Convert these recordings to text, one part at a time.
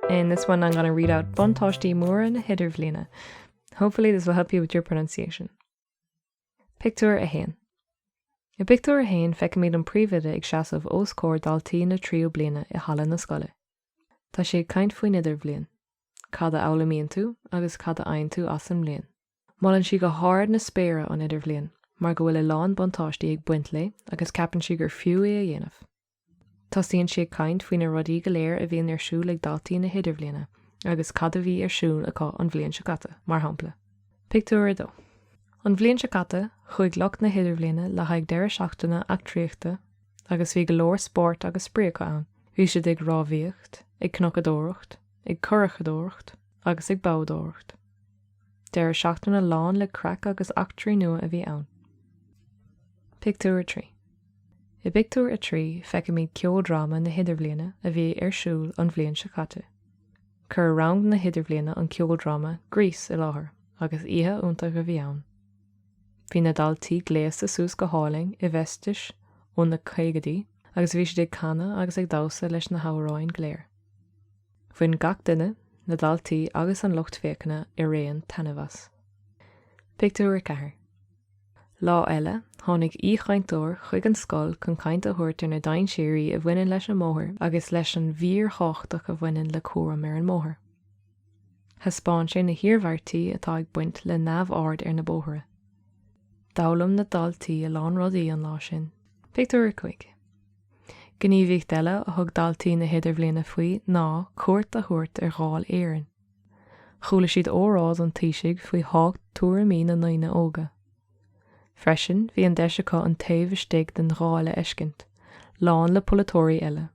In this one I'm going to read out buntáistí móra na hidirbhliana. Hopefully this will help you with your pronunciation. Pictiúr 1. I pictiúr 1 feicimid an príomhoide ag seasamh os comhair daltaí na tríú bliana i halla na scoile. Tá sé ag caint faoin idirbhliain, cad a fhoghlaimíonn tú agus cad a fhaigheann tú as an mbliain. Molann sí go hard na spéire an Idirbhliain mar go bhfuil a lán buntáistí ag baint léi agus ceapann sí gur fiú é a dhéanamh. Tosaíonn sí ag caint faoi na rudaí go léir a bhíonn ar siúl ag daltaí na hIdirbhliana agus cad a bhí ar siúl acu an bhliain seo caite, mar shampla. Pictiúr 2 An bhliain seo caite, chuaigh lucht na hIdirbhliana le haghaidh deireadh seachtaine eachtraíochta agus bhí go leor spóirt agus spraoi acu ann. Bhí siad ag rámhaíocht, ag cnocadóireacht, ag curachadóireacht agus ag boghdóireacht. Deireadh seachtaine lán le craic agus eachtraí nua a bhí ann. Pictiúr 3 I pictiúr a trí feicimid ceoldráma na hidirbhliana a bhí ar siúl an bhliain seo caite. Chuir rang na hidirbhliana an ceoldráma Grease i láthair agus oíche iontach a bhí ann. Bhí na daltaí gléasta suas go hálainn i bhfeistis ó na caogaidí agus bhí siad ag canadh agus ag damhsa leis na hamhráin go léir. Bhain gach duine, na daltaí agus an lucht féachana araon, taitneamh as. Pictiúr 4 Lá eile, tháinig aoichainteoir chuig an scoil chun caint a thabhairt ar na dainséirí a bhaineann leis an mbóthar agus leis an bhfíorthábhacht a bhaineann le cúram ar an mbóthar. Thaispeáin sé na hiarmhairtí atá ag baint le neamhaird ar na bóithre. D'fhoghlaim na daltaí a lán rudaí an lá sin. Pictiúr 5 Gníomhaíocht eile a thug daltaí na hIdirbhliana faoi ná cuairt a thabhairt ar Dháil Éireann. Chuala siad óráid an Taoisigh faoi thábhacht tuairimí na ndaoine óga. Freisin, bhí an deis acu an taobh istigh den Dháil a fheiscint, lán le polaiteoirí eile.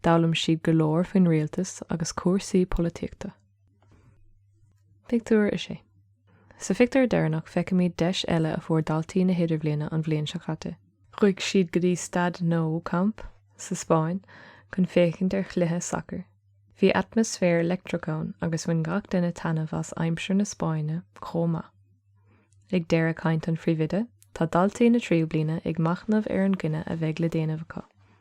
D'fhoghlaim siad go leor faoin rialtas agus cúrsaí polaitíochta. Pictiúr 6 Sa phictiúr deireanach feicimid deis eile a fuair daltaí na hidirbhliana an bhliain seo caite. Chuaigh siad go dtí Staid Nou Camp sa Spáinn chun féachaint ar chluiche sacair. Bhí atmaisféar leictreach ann agus bhain gach duine taitneamh as aimsir na Spáinne chomh maith. Ag deireadh caint an phríomhoide, tá daltaí na tríú bliana ag machnamh ar an gcinneadh a bheidh le déanamh acu.